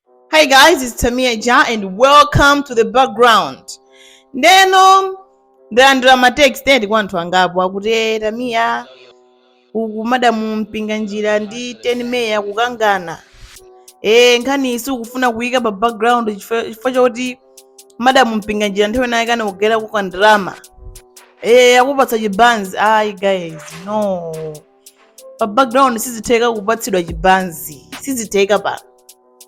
Hi guys, it's Tamia Ja and welcome to the background. Ndeno ndalandira ma text eti kwa anthu angapo akuti "Eh, Tamia uku madamu Mpinganjira ndi 10 May akukangana. Eh nkhani isi ukufuna kuyika pa background chifukwa choti madamu Mpinganjira nthawi naye anakugaira kandalama. Eh akupatsa chibanzi. Ayi guys, no. pa background sizitheka kupatsidwa chibanzi sizitheka pa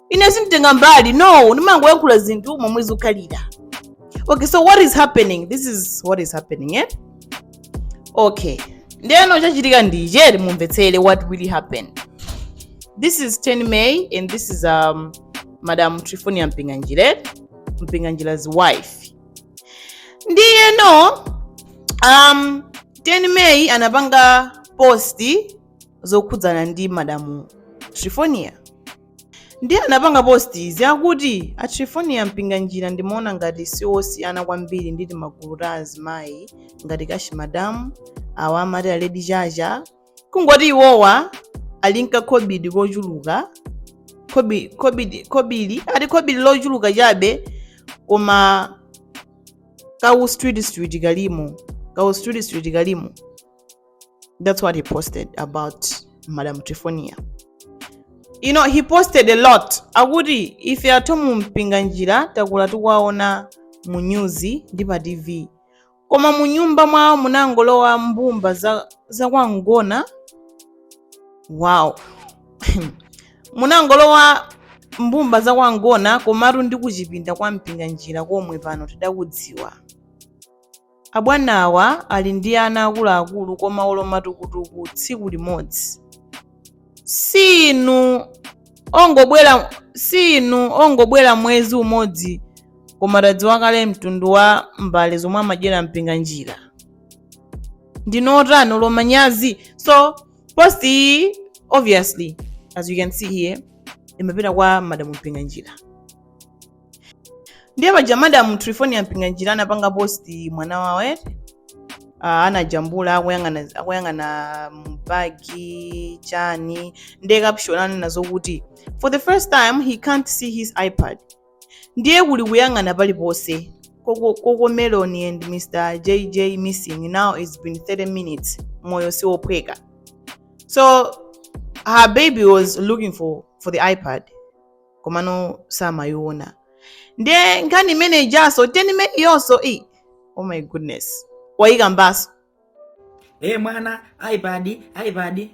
ine sinditenga mbali no ndimangoyankhula zinthu momwe zikhalira okay so what is happening this is what is happening eh? okay ndeno chachitika ndi ichi mumvetsere what really happened this is 10 may and this is um, madam trifonia mpinganjire mpinganjira's wife ndiyeno um, 10 May anapanga post zokhudzana ndi madamu Trifonia ndiye anapanga post yakuti a Trifonia Mpinganjira ndimaona ngati si osiyana kwambiri ndi timagulu ta azimayi ngati Kashi Madamu awa amati a Lady Chacha kungoti iwowa ali nka khobidi kochuluka khobi- khobidi khobili ati khobili lochuluka chabe koma kawu street street kalimo kawu street street kalimo that's what he posted about madam trifonia you know he posted a lot akuti ife a Thomu Mpinganjira takula tikuwaona mu nyuzi ndi pa tv Koma munyumba mwawo munangolowa mbumba za, za kwangona wow munangolowa mbumba za kwangona komatu ndi kuchipinda kwa mpinganjira komwe pano tadakudziwa abwanawa ali ndi ana akuluakulu koma olo matukutuku tsiku limodzi si inu ongobwera si inu ongobwera mwezi umodzi koma tadziwa kale mtundu wa mbale zomwe amadyera Mpinganjira ndinu otani olo manyazi so post iyi obviously as you can see here imapita kwa madamu Mpinganjira ndiye paja madamu trifonia mpinganjira anapanga posti mwana wawo eh? Ah, anajambula akuyang'ana m'bag chani ndiye caption anena zokuti for the first time he can't see his ipad ndiye kuli kuyang'ana paliponse Coco Melon and Mr. JJ missing. Now it's been 30 minutes. Moyo si wophweka. So her baby was looking for the iPad. komano samayiona ndiye nkhani imene ijaso ten May ijaso ii oh my goodness wayikambaso mwana ipad ipad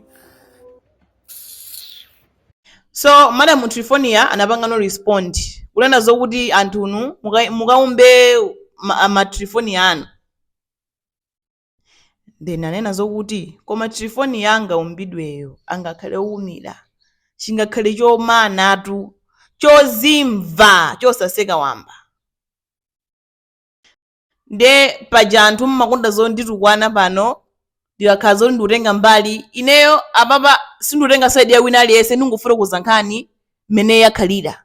so madam trifonia anapangano respond kunena zokuti anthunu muka- mukaumbe ma- matrifonia anu Nde ndinanena zokuti, Koma Trifonia anga umbidweyo angakhale woumira, chingakhale chomanatu, chozimva, chosaseka wamba. Nde paja anthu mmakonda zonditukwana pano, ndikakhala zoti ndikutenga mbali, ineyo apapa sindikutenga side ya wina aliyense, ndikungofotokoza nkhani mmene yakhalira.